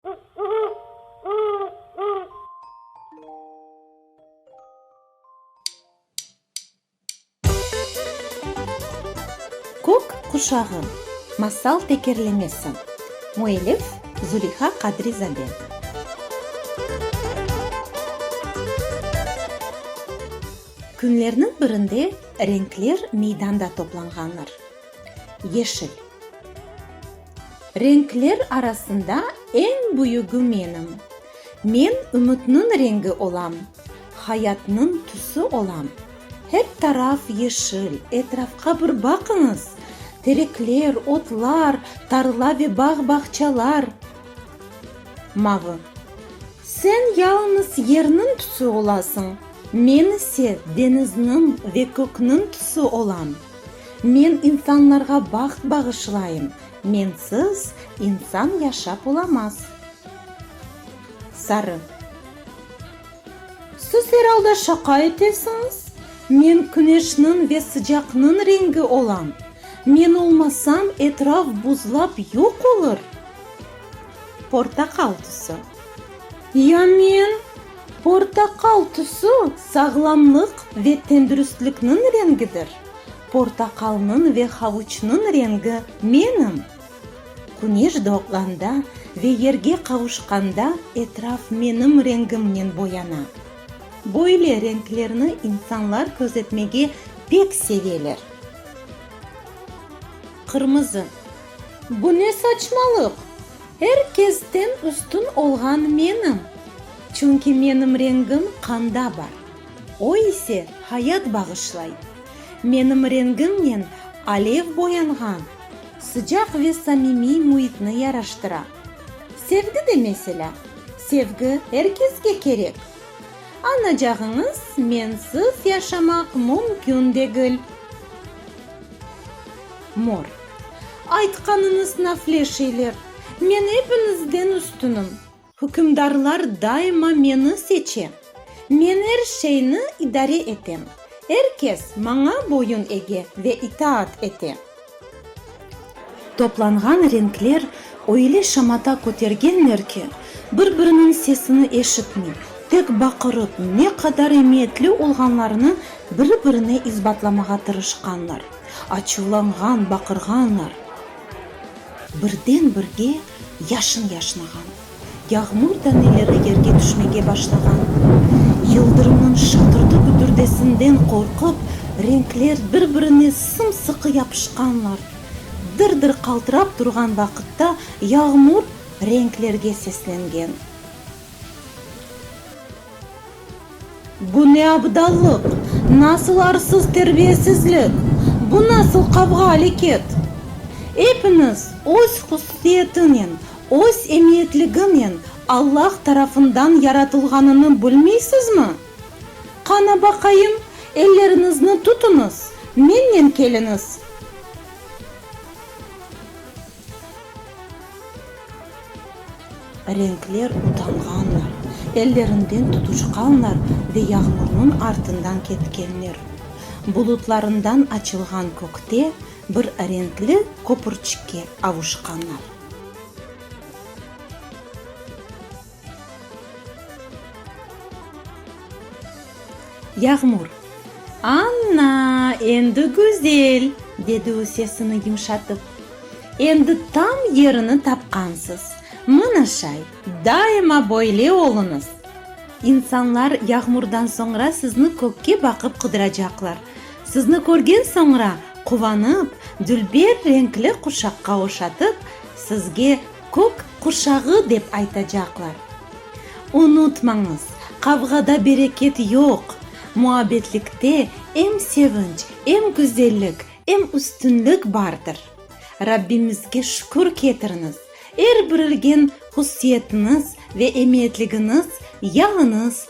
Kök quşağı, masal tekerlemesi. Müellif, Zuleyha Qadrizade. Künlerniñ birinde renkler meydanda toplanğanlar. Yeşil. Renkler arasında eñ büyügi menim. Men ümütniñ rengi olam, hayatnıñ tüsi olam. Hep taraf yeşil, etrafqa bir baqıñız, terekler, otlar, tarla ve bağ-bağçalar. Mavı. Sen yalıñız yerniñ tüsi olasıñ, men ise deñizniñ ve kökniñ tüsi olam. Men insanlarğa baht bağışlayım, mensiz insan yaşap olamaz. Sarı. Siz er alda şaqa etesiñiz, men küneşniñ ve sıcaqnıñ rengi olam, men olmasam etraf buzlap yoq olur. Portaqal tüsü. Ya men? Portaqal tüsü, sağlamlıq ve tendürüstlikniñ rengidir. Portaqalnıñ ve havuçnıñ rengi menim. Küneş doğğanda ve yerge qavuşqanda etraf menim rengimnen boyana. Böyle renklerni insanlar közetmege pek seveler. Qırmızı. Bu ne saçmalıq? Er kesten üstün olğan menim. Çünki menim rengim qanda bar. O ise hayat bağışlay. Menim rengimnen alev boyanğan, sıcaq ve samimiy müitni yaraştıra. Sevgi de meselâ. Sevgi er kesge kerek. Añacağıñız, mensiz yaşamaq mümkün degil. Mor. Aytqanıñız nafle şeyler. Men epiñizden üstünim. Hükümdarlar daima meni seçe. Men er şeyni idare etem. Er kes maña boyun ege ve itaat ete. Toplanğan renkler öyle şamata kötergenler ki, bir-biriniñ sesini eşitmey, tek baqırıp, ne qadar emiyetli olğanlarını biri-birine isbatlamağa tırışqanlar. Açuvlanğan, baqırğanlar. Birden-birge yaşın yaşnağan. Yağmur taneleri yerge tüşmege başlağan. Yıldırımnıñ şatırdı-güdürdesinden qorqıp, renkler bir-birine sım-sıqı yapışqanlar. Dır-dır qaltırap turğan vaqıtta yağmur renklerge seslengen. Bu ne abdallıq? Nasıl arsız terbiyesizlik? Bu nasıl qavğa aleket? Epiñiz öz hususiyetinen, öz emiyetliginen Allah tarafından yaratılğanını bilmiysizmi? Qana baqayım, elleriñizni tutuñız, mennen keliñiz. Renkler utanğanlar, ellerinden tutuçqanlar ve yağmurnıñ artından ketkenler. Bulutlarından açılğan kökte bir renkli köpürçikke avuşqanlar. Yağmur. Anna, endi güzel! dedi o sesini yumşatıp. Endi tam yerini tapqansız. Mına şay, daima böyle oluñız! İnsanlar yağmurdan soñra sizni kökke baqıp qıdıracaqlar. Sizni körgen soñra, quvanıp, dülber reñkli quşaqqa oşatıp, sizge Kök qurşağı dep aytacaqlar. Unutmañız, qavğada bereket yoq, muabbetlikte em sevinç, em güzellik, em üstünlik bardır. Rabbimizge şükür ketiriñiz, er bir ilgen hussiyetiniz ve emiyetligiñiz yalıñız